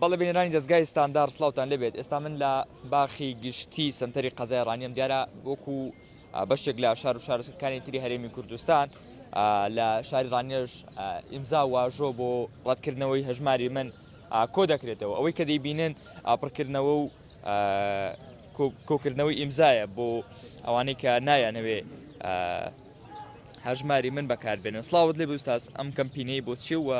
بەڵێ بینەرانی دەزگای ستاندار سلاوتان لێبێت ئێستا من لە باخی گشتی سنتەری قەزای ڕانیم دیارە وەکو بەشێک لە شار و شارەکانی تری هەرێمی کوردستان لە شاری ڕانێژ ئیمزا واژۆ بۆ ڕەتکردنەوەی هەژماری من کۆ دەکرێتەوە ئەوەی کە دەیبینن پڕکردنەوە و کۆکردنەوەی ئیمزایە بۆ ئەوانەی کە نایانەوێ هەژماری من بەکاربێنن سلااوت لێ بستاس ئەم کەمپینەی بۆ چی وە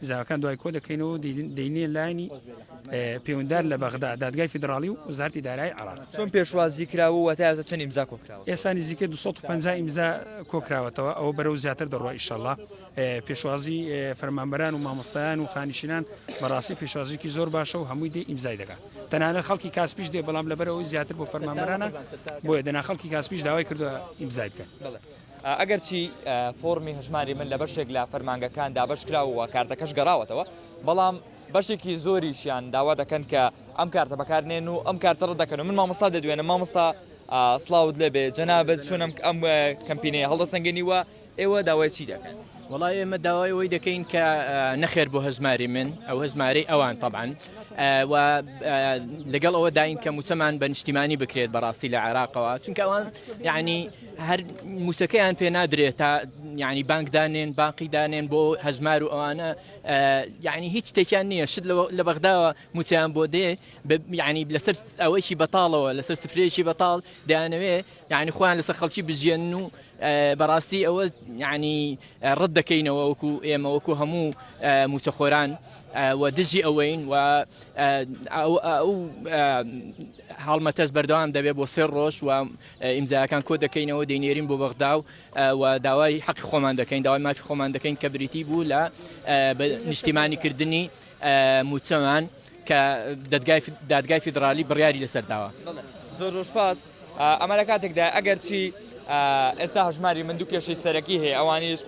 زاواکان دوای کۆ دەکەینەوە دەینێ لایەنی پەیوەندار لە بەغدا دادگای فیدراالی و وزارتی دارای عراق چۆن پێشوازی کراوە و تا ئێستا چەند ئیمزا کۆکراوە ئێسانی زیکە 250 ئیمزا کۆکراوەتەوە ئەوە بەرەو زیاتر دەڕۆ ئیشەڵا پێشوازی فەرمانبەران و مامۆستایان و خانیشینان بەڕاستی پێشوازیکی زۆر باشە و هەمووی دێ ئیمزای دەکات تەنانە خەڵکی کاسپیش دێ بەڵام لەبەرەوەی زیاتر بۆ فەرمانبەرانە بۆیە دەنا خەڵکی کاسپیش داوای کردووە ئیمزای بکەن ئەگەرچی فۆڕمی هەژماری من لە بەشێک لە فەرمانگەکان دابەش کراوە و کارتەکەش گەڕاوەتەوە، بەڵام بەشێکی زۆریشیان داوا دەکەن کە ئەم کارتە بەکارنێن و ئەم کارتە ڕەت دەکەن و من مامۆستا دەدوێنم مامۆستا سڵاوت لێبێ جەنابت چۆنم ئەم کەمپینەیە هەڵدەسەنگێنی وە ئێوە داوای چی دەکەن؟ وڵا ئێمە داوای ئەوەی دەکەین کە نەخێر بۆ هەژماری من ئەو هەژمارەی ئەوان طبعاان و لەگەڵ ئەوە داین کە موچەمان بە نیشتیمانی بکرێت بەڕاستی لە عێراقەوە چونکە ئەوان یعنی هەر مووچەکەیان پێ نادرێت تا یعنی بانک دانێن باقی دانێن بۆ هەژمار و ئەوانە یعنی هیچ تێکیان نییە شت لە بەغداوە موچیان بۆ دێ یعنی لەسەر ئەوەیکی بەتاڵەوە لەسەر سفرەیەکی بەتاڵ دەیانەوێ یعنی خۆیان لەسەر خەڵکی بژێن و بەڕاستی ئەوە یعنی ڕەت دەکەینەوە وەکو ئێمە وەکو هەموو موچەخۆران و دژی ئەوەین و ئەو هەڵمەتەش بەردەوام دەبێت بۆ سێ ڕۆژ و ئیمزایەکان کۆ دەکەینەوە دەینێرین بۆ بەغدا و داوای حەقی خۆمان دەکەین داوای مافی خۆمان دەکەین کە بریتی بوو لە نیشتیمانی کردنی موچەمان کە دادگای فیدراالی بڕیاری لەسەر داوە زۆر ڕۆژپاس ئەمە لە کاتێکدا ئەگەرچی ئێستا هەژماری من دوو کێشەی سەرەکی هەیە ئەوانیش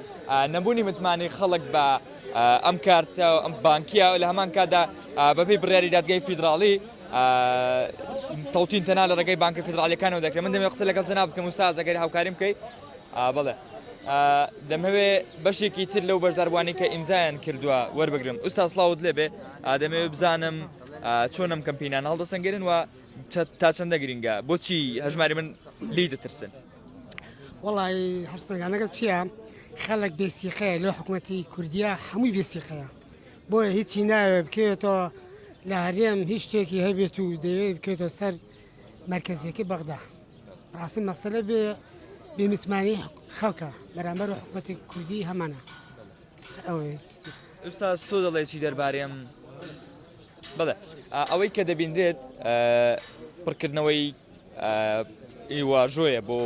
نەبوونی متمانی خەڵک بە ئەم کارتە ئەم بانکیە لە هەمان کادا بەبی بڕیاری دادگای فیدراالی تەوتین تەنها لە ڕێگەی بانکە فیدراڵیەکانەوە دەکرێت من دەمێ قسە لەگەڵ جەناب بکەم وستا زەگەری هاوکاریم بکەیت بڵێ دەمەوێ بەشێکی تر لەو بەشداربووانی کە ئیمزایان کردووە وەربگرم ئوستا سلااوت لێ بێ ئادەمێ بزانم چۆنم کەمپینان هەڵدەسەنگرن و تا چەندە گرنگە بۆچی هەژماری من لی دەترسن وڵی هەرسەنگانەکە چییە خەڵک بێسیقەیە لە حکوومەتتی کوردیا هەمووی بێسیقەیە بۆیە هیچی ناوێ بکەوێتەوە لە هەرێم هیچ شتێکی هەبێت و دەوێت بکەێتە سەر مرکزێکی بەغدا ڕاستی مەسەلە بێ بێمتمانی خەڵکە بەرامبەر و حکوومەتی کوردی هەمانە ئێستا تۆ دەڵێکی دەربارەم بڵێ ئەوەی کە دەبینرێت پڕکردنەوەی ئیواژۆیە بۆ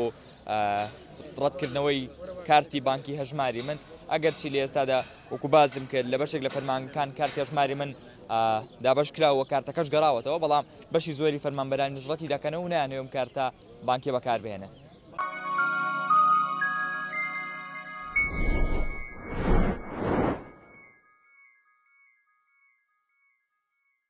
ڕەتکردنەوەی کارتی بانکی هەژماری من ئەگەرچی لە ئێستادا وەکو باسم کرد لە بەشێک لە فەرمانگەکان کارتی هەژماری من دابش کرا و کارتەکەش گەڕاوەتەوە بەڵام بەشی زۆری فەرمانبەرانی نژڕەتی دەکەن و نانەوەم کارتە بانکی بەکاربێنە